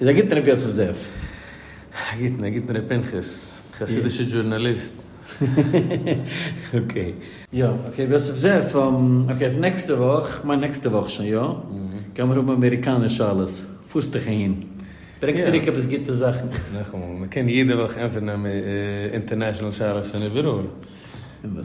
איז א גוטן ר' יוסף זאב. א גוטן, א גוטן ר' פנחס. חסידישע דזשורנאליסט. אקעי. יא, אקעי, ר' יוסף זאב, אקעי, אויף נעקסטע וואך, כ'מיין נעקסטע וואך שוין יא, גיימיר האבן אמעריקאנער שאלות, פארסט דיך אהין. ברענג צוריק עפעס גוטע זאכן. נאכאמאל, מ'קען יעדע וואך ענטפערן אינטערנעשאנעל שאלות פון איבעראל. אמת.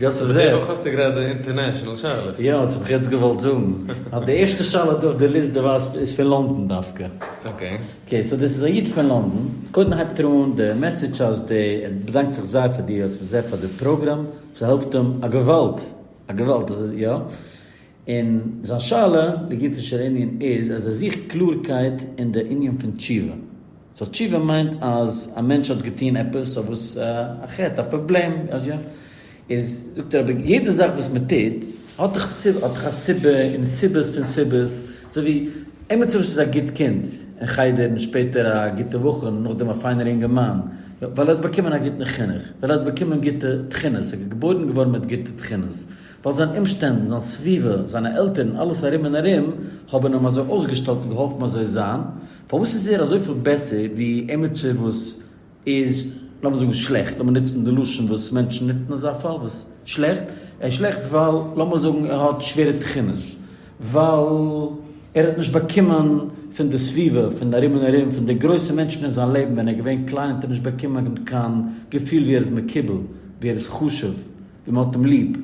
יוסף זאב. דערנאך האסטו גרייט די אינטערנעשאנעל שאלות. יא, דאס האב איך יעצט געוואלט זאגן. אז די ערשטע שאלה דא אויף די ליסט, דו ווייסט, איז פון לאנדאן דווקא. אקעי. אקעי, סאו דאס איז א איד פון לאנדאן. קודם הייבט ער אן די מעסעדזש אז די, ער באדאנקט זיך זייער פאר דיר יוסף זאב פאר די פראגראם, ס'העלפט אים א געוואלד, א געוואלד, אזוי, יא. און זיין שאלה לגופו של ענין איז אז ער זוכט קלארקייט אין די ענין פון תשובה. סאו תשובה מיינט אז א מענטש האט געטון עפעס אויף וואס א חטא, א פראבלעם, אז יא, איז זאגט ער אבער יעדע זאך וואס מען טוט האט דאך האט דאך א סיבה און סיבות פון סיבות, אזוי ווי עימיצער וואס איז א גוט קינד אין חדר און שפעטער א גוטע בחור און נאכדעם א פיינער אינגערמאן, יא, ווייל ער האט באקומען א גוטן חינוך, ווייל ער האט באקומען גוטע תכונות, ער איז געבוירן געווארן מיט גוטע תכונות. ווייל זיינע אומשטענדן, זיין סביבה, זיינע עלטערן און אלעס ארום און ארום האבן אים אזוי אויסגעשטעלט און געהאלפן אזוי זיין, פארוואס איז ער אזויפיל בעסער ווי עמיצער וואס איז, לאמיר זאגן שלעכט, לאמיר נוצן די לשון וואס מענטשן נוצן אויף זיין פאל, וואס שלעכט? ער איז שלעכט ווייל, לאמיר זאגן, ער האט שווערע תכונות, ווייל ער האט נישט באקומען פון די סביבה, פון ארום און ארום, פון די גרויסע מענטשן אין זיין לעבן, ווען ער איז געווען קליין האט ער נישט באקומען קיין געפיל ווי ער איז מקובל, ווי ער איז חשוב. ווי מען האט אים ליב,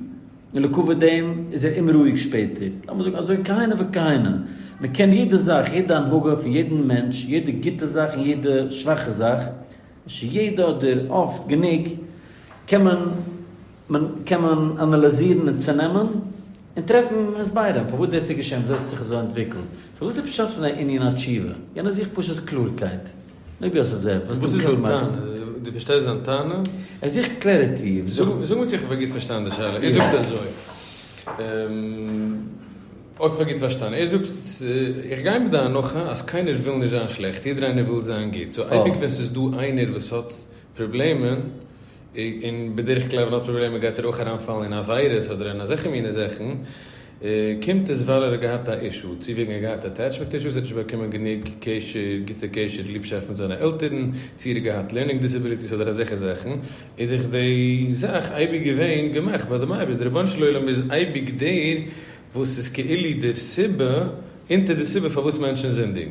און לעקאוויט דעם איז ער אומרואיג שפעטער, לאמיר זאגן אזוי כהנה וכהנה, מען קען יעדע זאך, יעדע הנהגה פון יעדן מענטש, יעדע גוטע זאך און יעדע שוואכע זאך, נישט יעדע אדער אפט גענוג, קען מען מען קען מען אנאליזירן און צונעמען, און טרעפן הסברים פארוואס דאס איז געשען, וואס דאס האט זיך אזוי אנטוויקלט, סאו וואס איז פשט פון די ענין התשובה? יענער זוכט פשוט קלארקייט. אויב יא ס'האט זייער פארסט און קלאר מאכן. דו פארשטייסט זיין טענה? ער זוכט קלערעטי. זאג מיר צו איך האב פאר גוט פארשטאנען די שאלה. ער זאגט אזוי. אויב איך האב גוט פארשטאנען. ער זאגט איך גיי מיט די הנחה אז קיינער וויל נישט זיין שלעכט. יעדער איינער וויל זיין גוט. סאו אייביג ווען ס'איז דא איינער וואס האט פראבלעמען, און בדרך כלל ווען ער האט פראבלעמען גייט ער אויך אריינפאלן אין עבירות אדער אין אזעלכע מיני זאכן, קומט עס ווייל ער האט געהאט א אישו, צו וועגן ער האט געהאט אטעטשמענט אישוס, ער האט נישט באקומען גענוג קשר, גוטע קשר, ליבשאפט מיט זיינע עלטערן, צו ער האט געהאט לערנינג דיסעביליטיס אדער אזעלכע זאכן, איז דאך די זאך אייביג געווען געמאכט ביי דעם אייבערשטן, די רבונו של עולם איז אייביג דער וואס איז כאילו דער סיבה אונטער די סיבה פארוואס מענטשן זינדיגן.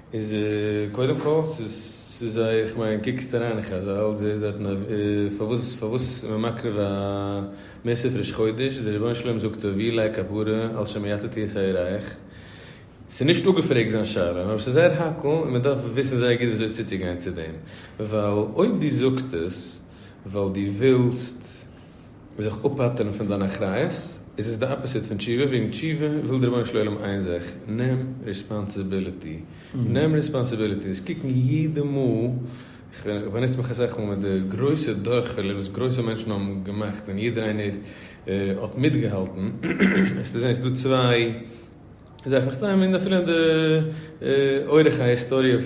איז קודם כל צו זיי איך מיין קוקסט אריין אין חזל זעהסט דארטן א פארוואס פארוואס איז מען מקריב א מעשר פריש חודש איז די רבונו של עולם זאגט ער ווי לייק כפרה על שמיעתתי את העיריך ס'איז נישט אפגעפרעגט זיין שאלה נאר ס'איז זייער האקל און מען דארף וויסן זייער גוט וויאזוי צוצוגיין צו דעם ווייל אויב דו זאגסט עס ווייל דו ווילסט זיך אפ'פטר'ן פון דיין אחריות, איז עס די אפעסיט פון תשובה, וועגן תשובה וויל דער רבונו של עולם איין זאך, נעם ריספאנסיביליטי, נעם ריספאנסיביליטי, אונז קוקן יעדע מאל, איך באנוץ מיך אסאך מאל מיט די גרויסע דורכפעלער וואס גרויסע מענטשן האבן געמאכט און יעדער איינער האט מיטגעהאלטן, וועסטו זען עס איז דא צוויי. איז אויך מסתם אין אפילו אין די אורך ההיסטאריע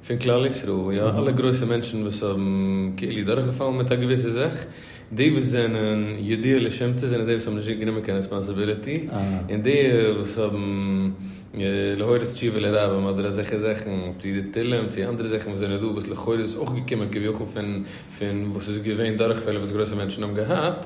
פון כלל ישראל, יא, אלע גרויסע מענטשן וואס האבן כאילו דורכגעפאלן מיט א געוויסע זאך, די וואס זענען ידוע לשמצה זענען די וואס האבן נישט גענומען קיין רעספאנסעביליטי, און די וואס האבן להורות תשובה לרבים אדער אזעלכע זאכן, צו די תהלים צו אנדערע זאכן וואס זענען דא, וואס לכאורה איז אויך געקומען כביכול פון וואס איז געווען דורכפעלער וואס גרויסע מענטשן האבן געהאט.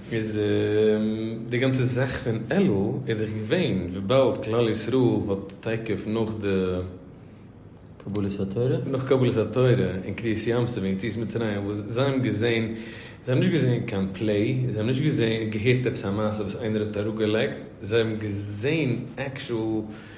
איז די גאנצע זאך פון אלול איז דאך געווען וויבאלד כלל ישראל האט תיכף נאך די קבלת התורה נאך קבלת התורה און קריעת ים סוף און יציאת מצרים וואס זיי האבן געזען זיי האבן נישט געזען קיין פלעי זיי האבן נישט געזען געהערט עפעס א מעשה וואס איינער האט אראפגעלייגט זיי האבן געזען עקשועל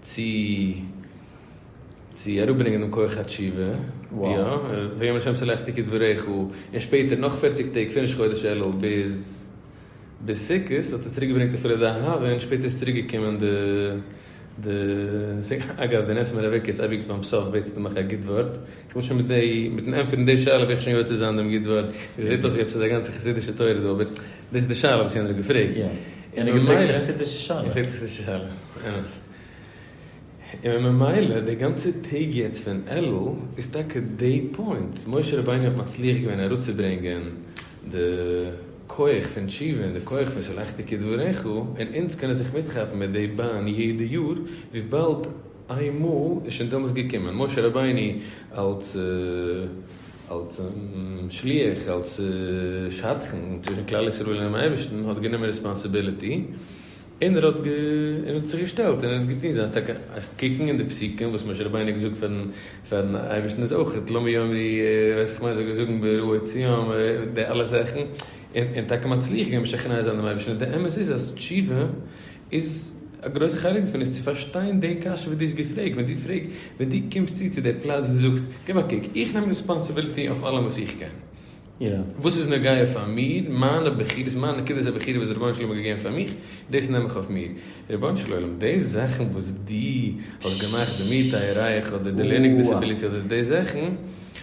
צו צו אראפברענגען דעם כח התשובה, יא, ויאמר השם צו לך תקץ בריחו, און שפעטער נאך פֿערציק טעג פון ראש חודש אלול ביז ביז סוכות האט ער צוריק געברענגט אפילו די אהבה, און שפעטער איז צוריק געקומען די די סוכות, אגב די נעמסט מיר אוועק יעצט אייביג ביים סוף בעטסט דו מיך א גוט ווארט, איך וויל שוין מיט די מיטן ענטפערן די שאלה וועל איך שוין יוצא זיין דעם גוט ווארט, עס זעט אויס ווי עפעס איז א גאנצע חסידישע תורה דא, אבער דאס איז די שאלה וואס יענער האט געפרעגט. און ממילא, איך פרעג דיך נישט די שאלה, אמת, און ממילא די גאנצע טעג יעצט פון אלול איז טאקע די פוינט, משה רבינו האט מצליח געווען אראפצוברענגען די כח פון תשובה און די כח פון שלחתי כדבריך, און אונז קענען זיך מיטכאפן מיט די באן יעדע יאר, וויבאלד איינמאל איז שוין דעמאלס געקומען משה רבינו אלס. אלס שליח, אלס שדכן צווישן כלל ישראל אינעם אייבערשטן, האט גענומען רעספאנסיביליטי, און ער האט זיך געשטעלט און ער האט געטון זיין טאקע, העסט קוקן אין די פסוקים וואס משה רבינו האט געזאגט פארן אייבערשטן איז אויך את לא מי יאמרי ווייס איך מוז זאגן זאגן ברעוא ציון די אלע זאכן, און טאקע מצליח געווען משכנע זיין דעם אייבערשטן, די אמת איז אז תשובה. איז א גרויסע חלק דערפון איז צו פארשטיין די קשיא וואס דו האסט געפרעגט, ווען דו פרעגסט, ווען דו קומסט צו צו די פלאץ וואס דו זאגסט, גיב א קוק, איך נעם רעספאנסיביליטי אויף אלעם וואס איך קען, וואס איז נוגע פאר מיר, מיינע בחירות, מיין נקודת הבחירה וואס די רבונו של עולם האט געגעבן פאר מיך, דאס נעם איך אויף מיר. רבונו של עולם, די זאכן וואס דו האסט געמאכט, די מיעוט טייערייך אדער די לערנינג דיסעביליטי אדער די זאכן,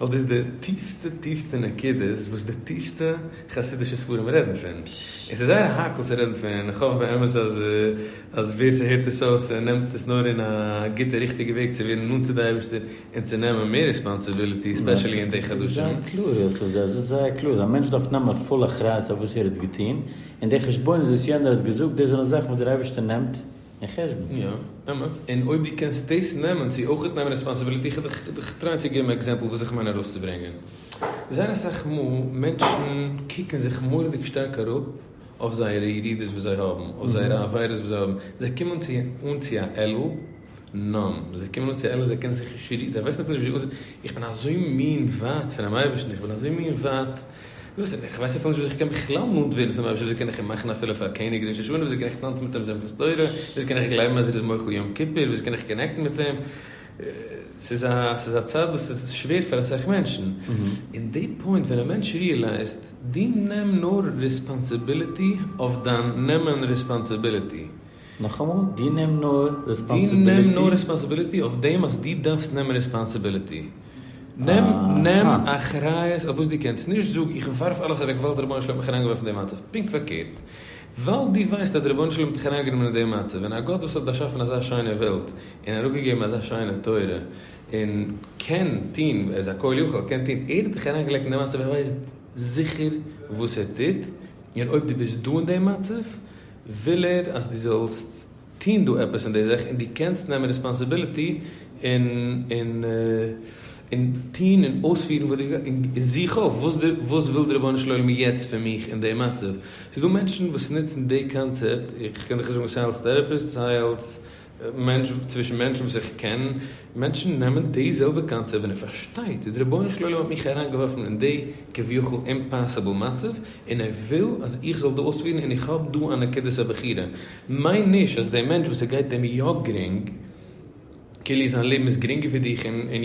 ווייל דאס איז די טיפסטע טיפסטע נקודות וואס די טיפסטע חסידישע ספרים רעדן פון. און ס'איז זייער האקל צו רעדן פון, איך האף באמת אז אז ווער ס'הערט עס אויס ער נעמט עס נאר אין א גוטע ריכטיגע וועג צו ווערן נאנט צו די אייבערשטער און צו נעמען מער ריספאנסיביליטי ספעשעלי אין די חדשים. עס איז זייער קלאר אז א מענטש דארף נעמען פול אחריות אויף וואס ער האט געטון, און די חשבונות וואס יענער האט געזאגט דאס זענען זאכן וואס דער אייבערשטער נעמט, אין חשבון. יא, אמת. און אויב דו קענסט דאס נעמען צו אויכעט נעמען רעספאנסיביליטי, איך האב דיך געטרייט צו געבן עקזעמפל וואס איך מיין ארויסצוברענגען. זייער אסאך מאל מענטשן קוקן זיך מורא'דיג שטארק אראפ אויף זייערע ירידות וואס זיי האבן, אויף זייערע עבירות וואס זיי האבן. זיי קומען צו אן צו א עלול נאן. זיי קומען אן צו א עלול זיי קענען זיך נישט רירן. זיי ווייסן אפילו נישט ווי אנ. איך בין אזוי מין ווייט פונעם אייבערשטן, איך בין אזוי מין ווייט. וואס איך ווייס אפילו נישט וואס איך קען בכלל נאנט ווערן צום אייבערשטער, וויאזוי קען איך אים מאכן אפילו פאר א קעניג ראש השנה, וויאזוי קען איך טאנצן מיט אים שמחת תורה, וויאזוי קען איך גלייבן אז ער איז מוחל יום כיפור, וויאזוי קען איך קאנעקטן מיט אים, ס'איז א ס'איז א צד וואס איז שווער פאר אסאך מענטשן, און די פוינט ווען א מענטש ריעלייזט דו נעם נאר ריספאנסיביליטי אויף דיין נעמען ריספאנסיביליטי. נאכאמאל, דו נעם נאר רעספאנסיביליטי. דו נעם נאר רעספאנסיביליטי אויף דעם אז דו דארפסט נעמען רעספאנסיביליטי. נעם, נעם אחריות אויף וואס דו קענסט. נישט זאג, איך ווארף אלעס אוועק ווייל דער רבונו של עולם האט מיך אריינגעווארפן אין די מצב. פונקט פארקערט. ווייל דו ווייסט אז דער רבונו של עולם האט דיך אריינגענומען אין די מצב, און א גאט וואס האט באשאפן אזא שיינע וועלט, און אראפגעגעבן אזא שיינע תורה, און קען טון, ער איז א כל יכול, קען טון, ער האט דיך אריינגעלייגט אין די מצב, ער ווייסט זיכער וואס ער טוט, און אויב דו ביסט דא אין די מצב, וויל ער אז דו זאלסט טון דא עפעס אין די זאך און דו קענסט נעמען ריספאנסיביליטי און און און טון און אויספירן וואס דו און זוך אויף וואס די וואס וויל די רבונו של עולם יעצט פון מיך אין די מצב. ס'איז דא מענטשן וואס נוצן די קאנצעפט, איך קען דיך נישט זאגן סיי אלס טעראפיסט סיי אלס. צווישן מענטשן וואס איך קען, מענטשן נעמען די זעלבע קאנצעפט ווען ער פארשטייט ווי די רבונו של עולם האט מיך אריינגעווארפן אין די כביכול אימפאסיבל מצב און ער וויל אז איך זאל דא אויספירן און איך האב דא א נקודת הבחירה מיין נישט אז די מענטש וואס עס גייט אים יא גרינג כאילו זיין לעבן איז גרינגער ווי דיך און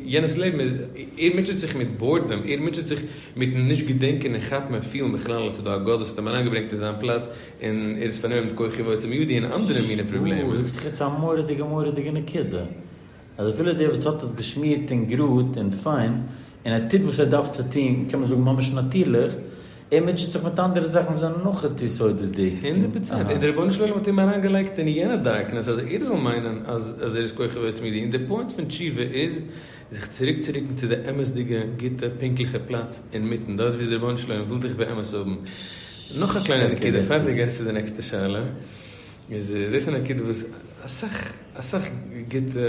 יענעמס לעבן איז ער מוטשעט זיך מיט בארדעם ער מוטשעט זיך מיטן נישט געדענקען און כאפן און פילן בכלל אז ס'איז דא א גאט וואס האט אים אריינגעברענגט אין זיין פלאץ און ער איז פארנומען מיט כוחי ועוצם ידי און אנדערע מיני פראבלעמען. שוואו, זאגסט דאך יעצט א מורא'דיגע מורא'דיגע נקודה. אז אפילו דער וואס האט עס געשמירט און גראד און פיין, און ער טוט וואס ער דארף צו טון, קען מען זאגן ממש נאטירליך, ער מוטשעט זיך מיט אנדערע זאכן וואס זענען נאך יותר יסודות'דיג. הונדערט פראצענט. און דער רבונו של עולם האט אים אריינגעלייגט אין יענע דארקנעס אז ער זאל מיינען אז ער איז כוחי ועוצם ידי. און דער פוינט פון תשובה איז. זיך צוריקצוריקן צו די אמת'דיגע, גוטע, פונקטליכע פלאץ אינמיטן, דארט וואו די רבונו של עולם וויל דיך באמת האבן. נאך א קליינע נקודה פאר די גייסט צו די נעקסטע שאלה, איז דאס א נקודה וואס אסאך אסאך גוטע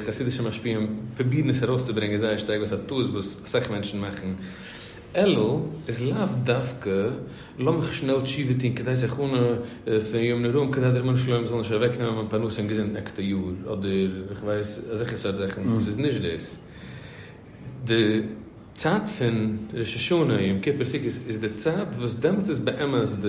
חסידישע משפיעים פרובירן עס ארויסצוברענגען זייער שטארק, דאס איז א טעות וואס אסאך מענטשן מאכן, אלא איז לאו דווקא לאמיך שנעל תשובה טון כדי זיך אננעמען פון יום נוראים כדי דער רבונו של עולם זאל נישט אוועק נעמען מיין פרנסה און געזונט נעקסטע יאר אדער איך ווייס אזעלכע סארט זאכן ס'איז נישט דאס די צייט פון ראש השנה יום כיפור סוכות איז די צייט וואס דעמאלטס איז באמת די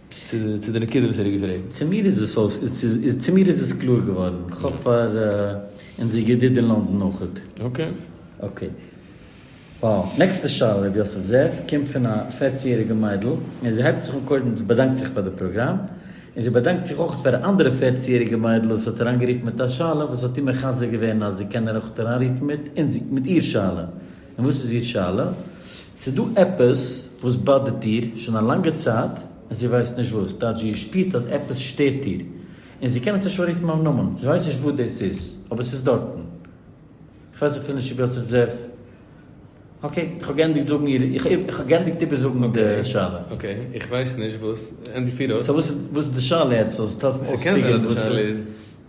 צו די נקודה וואס ער האט געפרעגט. צו מיר איז עס אויס, צו מיר איז עס קלאר געווארן. כ'האף פאר אונזער ידיד אין לאנדאן אויכעט. אקעי. אקעי. וואו. נעקסטע שאלה, ר' יוסף זאב, קומט פון א פערצן יעריגע מיידל, און זי הייבט זיך אן קודם זי באדאנקט זיך פאר די פראגראם, און זי באדאנקט זיך אויכעט פאר א אנדערע פערצן יעריגע מיידל וואס האט אריינגערופן מיט א שאלה וואס האט איר מחזק געווען אז זי קען אויכעט אריינרופן מיט איר שאלה. און וואס איז איר שאלה? ס'איז דא עפעס וואס באדערט איר שוין א לאנגע צייט און זי ווייסט נישט וואס, טייטש זי שפירט אז עפעס שטערט איר און זי קען עס נישט אנרופן ביים נאמען, זי ווייסט נישט וואס דאס איז אבער ס'איז דארטן. כ'ווייס אפילו נישט צו האט זיך דזעף. אקעי, איך האב געענדיגט זאגן איר, איך האב געענדיגט איבערזאגן די שאלה. אקעי, איך ווייס נישט וואס, ענדיג פיר אויס. סאו וואס איז די שאלה יעצט, זאל עס העלפן אויספיגערן וואס איז.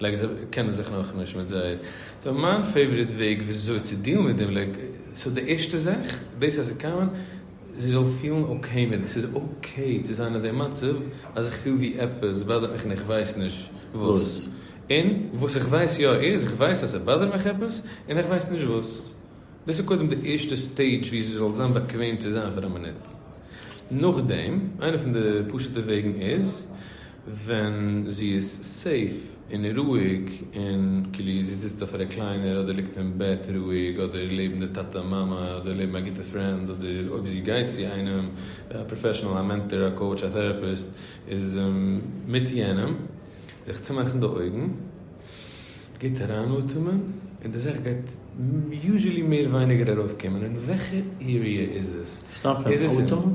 לייק זיי קענען זיך נאכנישט מיט זיי. סאו מיין פעיוואריט וועג וויאזוי צו דילן מיט דעם לייק סאו די ערשטע זאך דאס אז זי קאמען זי זאל פילן אקעי מיט דעם ס'איז אקעי צו זיין אין דעם מצב אז איך פיל ווי עפעס באדערט מיך און איך ווייס נישט וואס און וואס איך ווייס יא איז איך ווייס אז ס'באדערט מיך עפעס און איך ווייס נישט וואס דאס איז קודם די ערשטע סטעידזש ווי זי זאל זיין באקוועם צו זיין פאר א מינוט נאכדעם איינע פון די פשוטע וועגן איז. ווען זי איז סעיף און רואיג און כאילו זי זיצט אויף א רעקליינער אדער ליגט אין בעט רואיג אדער לעבן די טאטע מאמע אדער לעבן א גוטע פרענד אדער אויב זי גייט צו איינעם א פראפעשענעל א מענטאר א קאוטש א טעראפיסט איז מיט יענעם זיך צומאכן די אויגן גוט אריין אטעמען און די זאך גייט יוזשעלי מער ווייניגער ארויפקומען און וועלכע עריע איז עס? סתם פון אטעמען?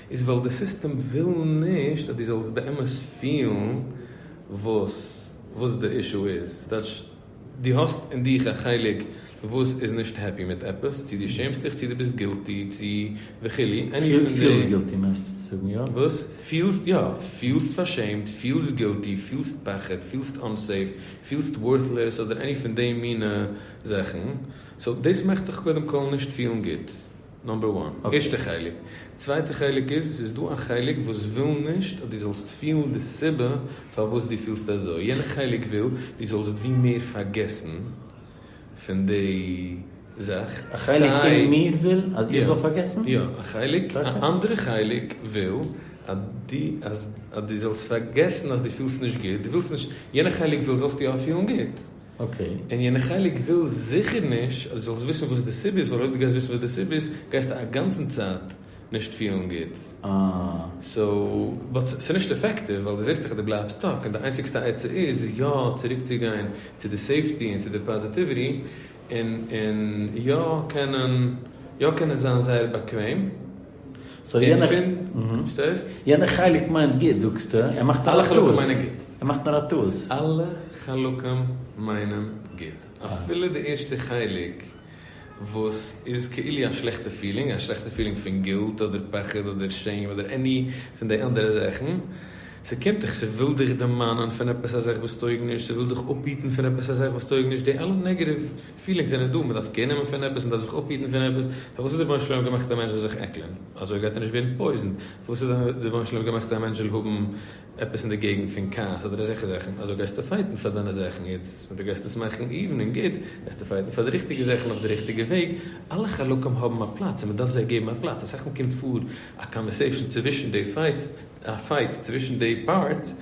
איז ווייל די סיסטעם וויל נישט אז דו זאלסט באמת פילן וואס וואס די אישו איז, ס'טייטש דו האסט אין דיך א חלק וואס איז נישט העפי מיט עפעס, צו דו שעמסט דיך, צו דו ביסט גילטי, צו וכו', עני פון די. פילסט גילטי מיינסטו צו זאגן, יא? וואס? פילסט, יא, פילסט פארשעמט, פילסט גילטי, פילסט פחד, פילסט אנסעיף, פילסט ווארטלעס אדער עני פון די מינע זאכן, סאו דאס מאכט דיך קודם כל נישט פילן גוט. נאמבער וואן, ערשטע חלק. צווייטע חלק איז, עס איז דא א חלק וואס וויל נישט אז דו זאלסט פילן די סיבה פארוואס דו פילסט אזוי, יענע חלק וויל דו זאלסט ווי מער פארגעסן פון די זאך, א חלק אין מיר וויל אז איך זאל פארגעסן? יא, א חלק, א אנדערע חלק וויל אז דו זאלסט פארגעסן אז דו פילסט נישט גוט, דו ווילסט נישט, יענע חלק וויל זאלסטו יא פילן גוט. אקעי, און יענע חלק וויל זיכער נישט אז דו זאלסט וויסן וואס די סיבה איז, ווייל אויב דו גייסט וויסן וואס די סיבה איז גייסטו א גאנצן צייט נישט פילן גוט. אה. סאו, באט ס'איז נישט אפעקטיוו ווייל דו זעסט דאך אז דו בלייבסט סטאק, און די איינציגסטע עצה איז יא צוריק צו גיין צו די סעיפטי און צו די פאזיטיוויטי, און און יא קענען יא קענען זיין זייער באקוועם. יענע חלק מיינט גוט זאגסטו, ער מאכט נאר א טעות, ער מאכט נאר א טעות. אלע חלקים מיינען גוט, אפילו די ערשטע חלק וואס איז כאילו א שלעכטע פילינג, א שלעכטע פילינג פון גילט אדער פחד אדער שעים אדער עני פון די אנדערע זאכן, ס'קומט דיך, ס'וויל דיך דערמאנען פון עפעס א זאך וואס טויג נישט, ס'וויל דיך אפהיטן פון עפעס א זאך וואס טויג נישט, די אלע נעגעטיוו. פילינגס זענען דא, מ'דארף קעיר נעמען פון עפעס, מ'דארף זיך אפהיטן פון עפעס, פארוואס האט די רבונו של עולם געמאכט א מענטש זאל זיך עקלען? אזוי גייט ער נישט ווערן פויזענט. פארוואס האט די רבונו של עולם געמאכט אז א מענטש זאל האבן עפעס אין די געגנט פון כעס אדער אזעלכע זאכן? אזוי גייסטו פייטן פאר דיינע זאכן, יעצט ווען דו גייסט עס מאכן איוון און גוט, גייסטו פייטן פאר די ריכטיגע זאכן אויף די ריכטיגע וועג. אלע חלקים האבן א פלאץ און מ'דארף זיי געבן א פלאץ. אסאך מאל קומט פאר א קאנווערסעישאן צווישן די פייטס, א פייט צווישן די פארטס,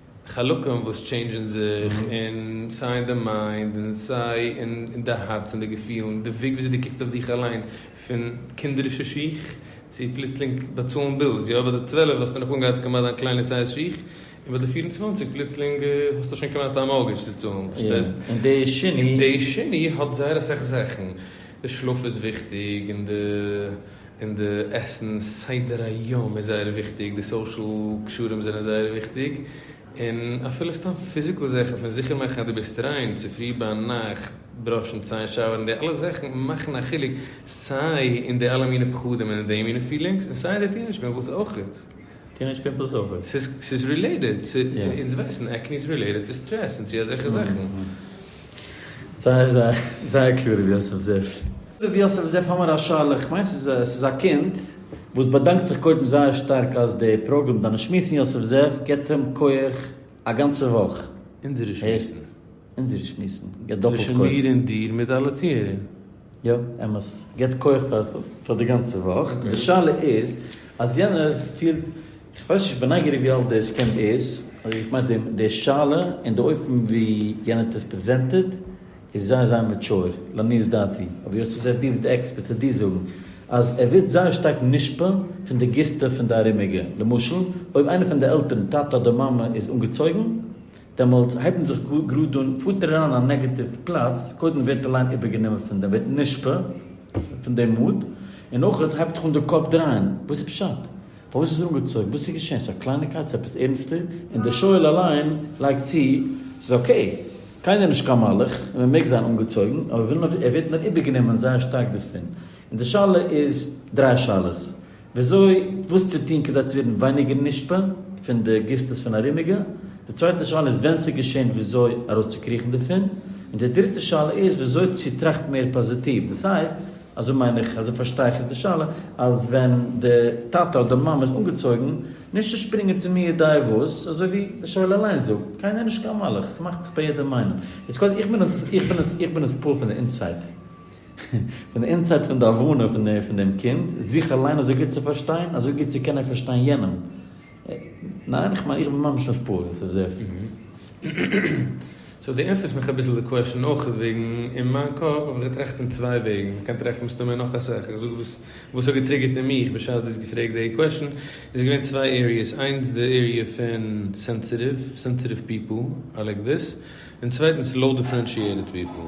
חלקים וואס טשעינדזשען זיך און סיי אין די מיינד און סיי אין די הארץ און די געפילן, די וועג וויאזוי דו קוקסט אויף דיך אליין פון קינדערישע שיך צו פלוצלינג באצאלן בילס, יא ביי די צוועלף האסטו נאך אנגעהאט כמעט דיין קליינע סייז שיך און ביי די פֿיר און צוואַנציק פלוצלינג האסטו שוין כמעט א מארגעדזש צו צאלן, פארשטייסט? און די שני האט זייער אסאך זאכן, די שלאף איז וויכטיג און די און די עסן סדר היום איז זייער וויכטיג, די סאושעל קשרים זענען זייער וויכטיג, און אפילו סתם פיזיקעל זעכן פון זיכער מאכן אז דו ביסט ריין, צופרי ביינאכט בראשן ציין שאווערן, די אלע זאכן מאכן א חילוק סיי אין די אלע מינע פחדים און אין די מינע פילינגס און סיי אין די טינעדש פימפלס אויכעט. טינעדש פימפלס אויכעט? ס'איז רילעיטעד צו, אונז ווייסן עקני איז רילעיטעד צו סטרעס און צו אזעלכע זאכן. זייער זייער זייער קלאר רבי יוסף זיף. רבי יוסף זיף האמער א שאלה, איך מיין ס'איז ס'איז א קינד וואס באדאנקט זיך קודם זייער שטארק אז די פראגראם דיינע שמועסן יוסף זיף געט אים כח א גאנצע וואך. אונזערע שמועסן. אונזערע שמועסן געט דאפעלט כח. צווישן מיר און דיר מיט אלע צוהערער. יא, אמת. געבט כח פאר פאר די גאנצע וואך. די שאלה איז אז יענער פילט, איך ווייס נישט, איך בין נייגעריג ווי אלט דאס קען איז, אדער איך מיין דעם די שאלה און די אופן ווי יענער האט עס פרעזענטעד איז זייער זייער מעטשור, לעניות דעתי. אבער יוסף זעט דו ביסט די עקספערט צו דיר זאגן אז ער ווערט זייער שטארק מושפע פון די גיסטע פון די ארומיגע. למשל אויב איינער פון די עלטערן, טאטע אדער מאמע, איז אנגעצויגן, דעמאלטס הייבן זיך גראד אן פוטערן אריין א נעגעטיוו פלאץ, קודם ווערט די ליין איבערגענומען פון דעם, ווערט נשפע פון דעם מוד, און נאכער הייבט זיך אן די קאפ דרייען, וואס איז פשט? פארוואס איז ער אנגעצויגן? וואס איז געשען? ס'איז א קלייניגקייט? ס'איז עפעס ערנסטער? און דער שואל אליין לייגט צו, ס'איז אקעי, קיינער איז נישט קיין מלאך, און מען מעג זיין אנגעצויגן, אבער ער ווערט נאר איבערגענומען זייער שטארק דערפון. און די שאלה איז דריי שאלות. וויאזוי וואס צו טון כדי צו ווערן ווייניגער נשפע פון די גיסטעס פון ארומיגע, די צווייטע שאלה איז ווען ס'איז געשען וויאזוי ארויסצוקריכן דערפון, און די דריטע שאלה איז וויאזוי צו טראכטן מער פאזיטיוו, דאס הייסט, אזוי מיין איך, אזוי פארשטיי איך איז די שאלה, אז ווען די טאטע אדער מאמע איז אנגעצויגן, נישט צו שפרינגען צו מי יודע וואס, אזוי ווי די שואל אליין זאגט, קיינער איז נישט קיין מלאך, ס'מאכט זיך ביי יעדעם איינעם. יעצט קודם, איך בין עס, איך בין עס, איך בין עס פועל פון די אינסייד. פון די אינסייד פון די הבנה פון דעם קינד, זיך אליין אזוי גוט צו פארשטיין, אזוי גוט צו קענען פארשטיין יענעם. ניין? איך מיין איך בין ממש נישט פרא דאס איז עפעס. סאו דו ענטפערסט מיך אביסל די קוועשאן אויך איז וועגן אין מיין קאפ האב איך געטראכט אין צוויי וועגן מען קען טרעפן מסתמא נאך אסאך איך זאג וואס וואס האט געטריגערט אין מיך בשעת דו האסט געפרעגט די קוועשאן איז געווען צוויי עריעס איינס די עריע פון סענסיטיוו סענסיטיוו פיפל איי לייק דיס און צווייטנס לאו דיפרענשיעטעד פיפל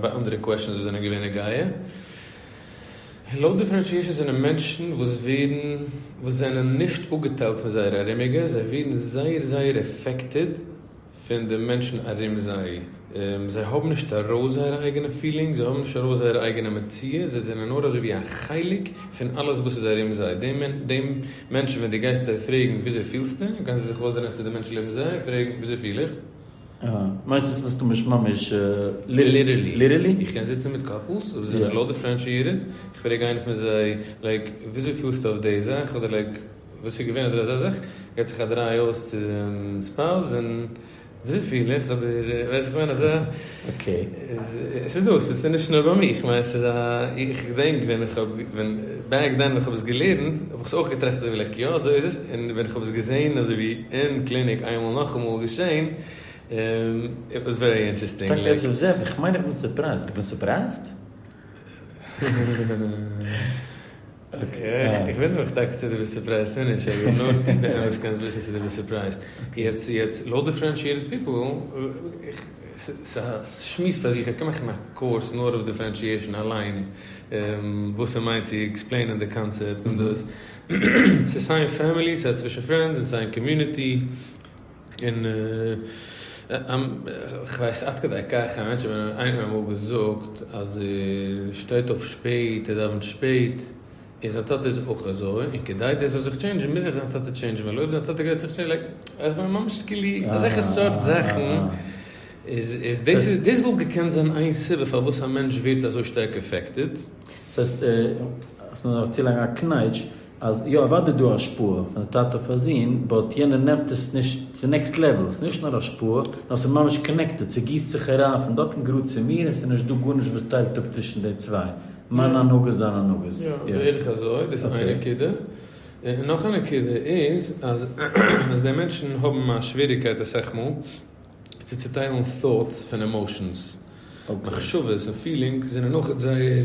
ביי אנדערע קוועשאנס וואס זענען געווען נוגע לאו דיפערענשיעשאן זענען מענטשן וואס ווערן וואס זענען נישט אפגעטיילט פון זייערע ארומיגע זיי ווערן זייער זייער עפעקטעד פון די מענטשן ארום זיי זיי האבן נישט ארויס זייערע אייגענע פילינגס זיי האבן נישט ארויס זייערע אייגענע מציאות זיי זענען נאר אזוי ווי א חלק פון אלעס וואס איז ארום זיי דעם דעם מענטשן ווען דו גייסט זיי פרעגן וויאזוי פילסטו קענסטו זיך אויסדרייען צו די מענטשן לעבן זיי און פרעגן וויאזוי פיל איך. אה, מיינסט עס מסתמא נישט ממש ליטערלי? איך קען זיצן מיט קאפלס וואס זענען לא דיפרענשיעטעד, איך פרעג איינער פון זיי לייק וויאזוי פילסטו אויף די זאך אדער לייק וואס איז געווען אדער אזא זאך, געט זיך א דריי אויס צום ספאוז און וויאזוי פיל איך אדער ווייסט וואס איך מיין אזא. אקעי, ס'איז דא, ס'איז נישט נאר ביי מיר, איך מיין ס'איז א, איך געדענק ווען איך האב, ווען, בעק דען ווען איך האב עס געלערנט, האב איך עס אויך געטראכט אזוי ווי לייק יא אזוי איז עס, און ווען איך האב עס געזעהן אזוי ווי אין קליניק איינמאל נאכאמאל געשעהן, איט וואס ווערי אינטערעסטינג. טאקע עס איז זעט, איך מיין איך בין סורפרייזד, איך בין סורפרייזד? איך בין דאך טאקע צו דיר ביסט סורפרייזט און נישט, איך בין נאר דער וואס קען עס וויסן צו דיר ביסט סורפרייזט. יעצט לויט די פרענטשיעטעד פיפל, ס'איז א שמועס פאר זיך, איך קען מאכן א קורס נאר אויף דיפרענשיעשן אליין, וואס ס'מיינט צו עקספלעינען די קאנצעפט און דאס, ס'איז סיי אין פעמילי, סיי צווישן פרענדס און סיי אין קאמיוניטי. און כ'ווייס עד כדי כך א מענטש ווען איינער האט אמאל געזאגט אז ער שטייט אויף שפעט ער דאווענט שפעט און זיין טאטע איז אויך אזוי און כדי דאס זאל זיך טשעינדזשן מוז זיך זיין טאטע טשעינדזשן ווייל אויב זיין טאטע גייט זיך טשעינדזשן לייק אז מ'איז ממש כאילו אזעלכע סארט זאכן איז דאס דאס וואלט געקענט זיין איין סיבה פארוואס א מענטש ווערט אזוי שטארק עפעקטעד. ס'הייסט אז מ'דארף צולייגן א קנייטש. אז יא אוודאי איז דא השפעה פון א טאטע אויף א זון, באט יענער נעמט עס נישט צו נעקסט לעוועל, ס'איז נישט נאר השפעה, נאר ס'איז ממש קאנעקטעד, ס'גיסט זיך אריין פון דארט און גראד צו מיר און ס'איז נישט דא גארנישט וואס טיילט אפ צווישן די צוויי, מיינע הנהגות זיינע הנהגות. יא, בערך אזוי, דאס איז איין נקודה. און נאך א נקודה איז אז אז די מענטשן האבן א שוועריגקייט אסאך מאל צו צוטיילן thoughts פון עמאושענס, מחשבות און פילינגס זענען אויך זייער.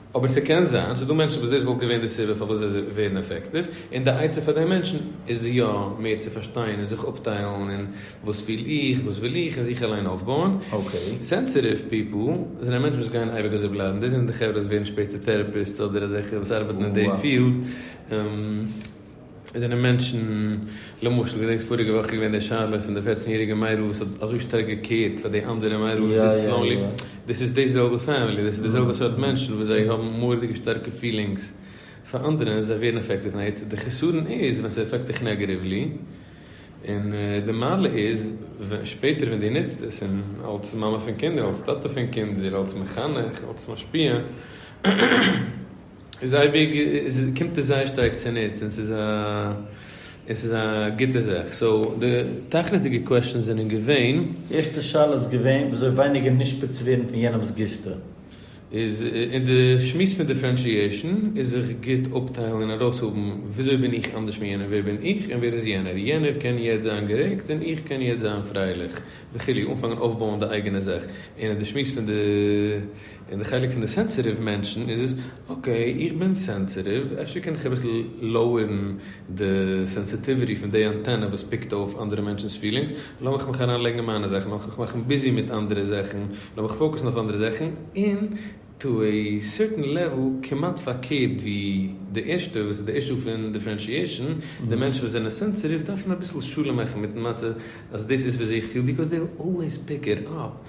אבער ס'קען זיין ס'דא מענטשן וואס דאס וואלט געווען די סיבה פארוואס זיי ווערן עפעקטיוו, און די עצה פאר די מענטשן איז יא מער צו פארשטיין און זיך אפטיילן אין וואס פיל איך, וואס וויל איך, און זיך אליין אויפבויען. סענסעטיוו פיפל זענען מענטשן וואס גייען אייביג אזוי בלייבן, דאס זענען די חברה וואס ווערן שפעטער טעראפיסטס אדער אזעלכע וואס ארבעטן אין די פיעלד. עס זענען מענטשן, למשל, געדענקסט פאריגע וואך איז געווען די שאלה פון די פערצן יעריגע מיידל וואס האט אזוי שטארק געקעירט פאר די אנדערע מיידל וואס זיצט לאנלי, דאס איז די זעלבע פעמילי, דאס איז די זעלבע סארט מענטשן וואס זיי האבן מורא'דיגע שטארקע פילינגס פאר אנדערע און זיי ווערן עפעקטעד פון עטס, די חסרון איז ווען ס'איז עפעקט דיך נעגעטיוולי, און די מעלה איז ווען שפעטער ווען דו נוצט עס און אלס מאמע פון קינדער, אלס טאטע פון קינדער, אלס מחנך, אלס משפיע. איז אייביג איז קומט עס זייער שטארק צוניץ און ס'איז א און ס'איז א גוטע זאך סאו די תכלית'דיגע קוועשטענס זענען געווען. ערשטע שאלה איז געווען וויאזוי ווייניגער נשפץ צו ווערן פון יענעמ'ס גיסטע. איז אין די שמועס פון דיפרענשיעשן איז זיך גוט אפטיילן און ארויסהאבן וויאזוי בין איך אנדערש פון יענעם ווער בין איך און ווער איז יענער יענער קען יעצט זיין גערעגט און איך קען יעצט זיין פרייליך וכו' אנפאנגען אויפבויען די אייגענע זאך און אין די שמועס פון די אין די חלק פון די סענסעטיוו מענטשן איז עס, אקעי איך בין סענסעטיוו אפשר קען איך אביסל לאוערן די סענסעטיוויטי פון די אנטענע וואס פיקט אויף אנדערע מענטשן'ס פילינגס, לאמיך מיך אריין לייגן אין מיינע זאכן, לאמיך מיך מאכן ביזי מיט אנדערע זאכן, לאמיך פאוקוסן אויף אנדערע זאכן, און טו עי סערטען לעוועל כמעט פארקערט ווי די ערשטע וואס איז די אישו פון דיפרענשיעשן, די מענטשן וואס זענען סענסעטיוו דארפן אביסל שלום מאכן מיטן מצב אז דאס איז וויאזוי איך פיל ביקאוז דעי וויל אלוועיס פיק איט אפ.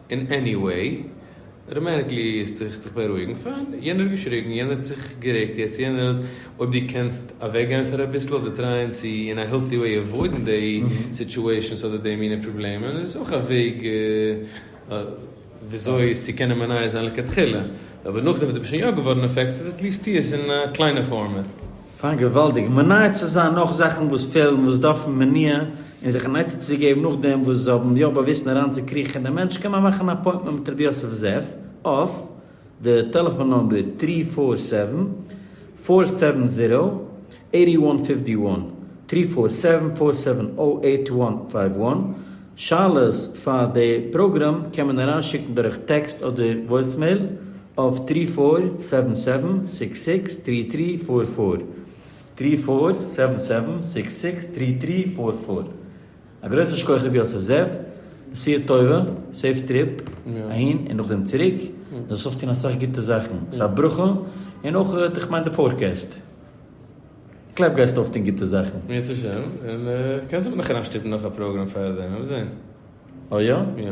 און עניוועי, ר' מעניקלי האסט זיך זיך בארואיגן, פיין, יענער האט געשריגן, יענער האט זיך גערעגט, יעצט יענער איז, אויב דו קענסט אוועק גיין פאר אביסל אדער טרייען צו אין א העלטי וועי עוואוידן דעי סיטשועישאנס אדער דעי מינע פראבלעמען איז אויך א וועג וויאזוי עס צו קענען מניע זיין לכתחילה, אבער נאכדעם וואס דו ביסט שוין יא געווארן עפעקטעד, עטליעסט טו עס אין א קליינע פארמעט. פאר געוואלדיג מונע צו זיין נאך זאכן וואס פעלן וואס דארפן מניעה און זיך אן עצה צו געבן נאכדעם וואס זיי האבן יא באוויסן אריין צו קריכן אין די מענטש קען מען מאכן א אפוינטמענט מיט רבי יוסף זאב אויף די טעלעפאן נומבער טרי פאר סעווען פאר סעווען זירא עיטי וואן פיפטי וואן טרי פאר סעווען פאר סעווען אויט וואן פייוו וואן. שאלות פאר די פראגראם קען מען אריין שיקן דורך טעקסט אדער וואויסמעיל אויף טרי פאר סעווען סעווען סיקס סיקס טרי טרי פאר פאר, טרי פאר סעווען סעווען סיקס סיקס טרי טרי פאר פאר. א גרויסן שכח ר' יוסף זאב, נסיעה טובה, סעיף טריפ, אהין און נאכדעם צוריק, זאלסט אויפטון אסאך גוטע זאכן, ס'איז א ברכה, און אויך איך מיין די פארקעסט. כ'גלייב גייסט אויפטון גוטע זאכן. בעזרת השם, און קענסט אבער נאך אריינשטופן נאך א פראגראם פאר דעם, וועט מען זען. אה יא? יא.